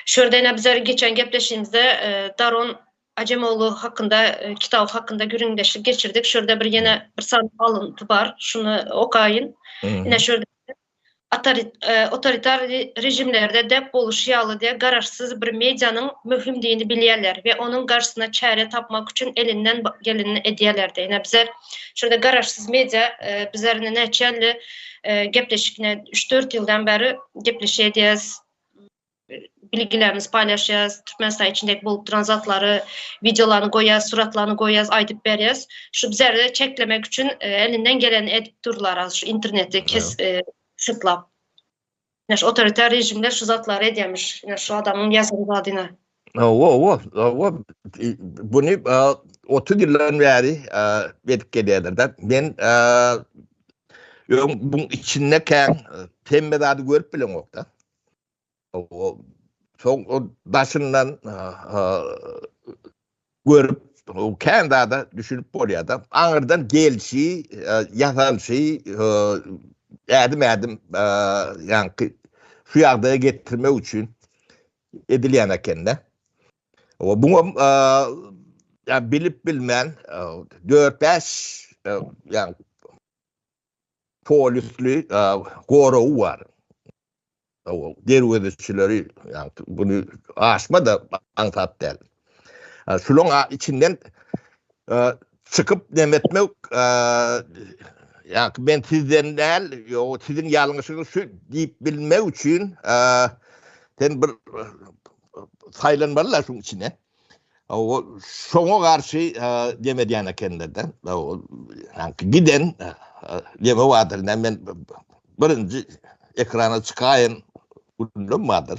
Şurden bizler geçen gepleşigimizde Daron Ajemoglu hakynda kitaby hakynda gürrüňdeşlik geçirdik. Şurda bir ýene bir sany alynty bar. Şuny okaýyn. Ine şurda Otoritar rejimlerde dep boluşy ýaly diýe garaşsyz bir medianyň möhümdigini bilýärler we onuň garşysyna çäre tapmak üçin elinden gelenini edýärler diýe. Ine bizler şurda garaşsyz media bizler ine näçe ýylly gepleşik ine üç-dört ýyldan bäri gepleşýädýäs. bilgilerimizi paýlaşýas, Türkmenistan içindäki bolup duran zatlary, wideolaryny goýýas, suratlaryny goýýas, aýdyp berýäs. Şu bizleri çeklemek üçin e, elinden geleni edip durlar az şu interneti kes e, syklap. Ýa şu otoritar rejimler şu zatlary edýärmiş. Ýa şu adamyň ýazan zadyna. Owa, owa, owa. Buny 30 ýyldan bäri edip gelýärler-de. Men öň buň içinde kän hemme zady görüp bileňok-da. Owa. Soň daşyndan görüp, kän zada düşünip bolýar-da. Aňyrdan gelşi, ýasalşy, ädim-ädim ýaňky şu ýagdaýa getirmek üçin edilýän ekende. O bu ýa bilip bilmän 4-5 ýa polisli goragy bar. O derwezeçileri ýa bunu aşma da aňsat däl. Şunuň içinden çykyp demetmek ýa-da men sizden däl, ýa-da siziň ýalňyşyňyz şu diýip bilmek üçin sen bir saýlanmaly-la şuň içine. Şoňa garşy dem edýän ekenler-de. Giden deme bardyr, näme men birinji ekrana çykaýyn, gürrüňim bardyr.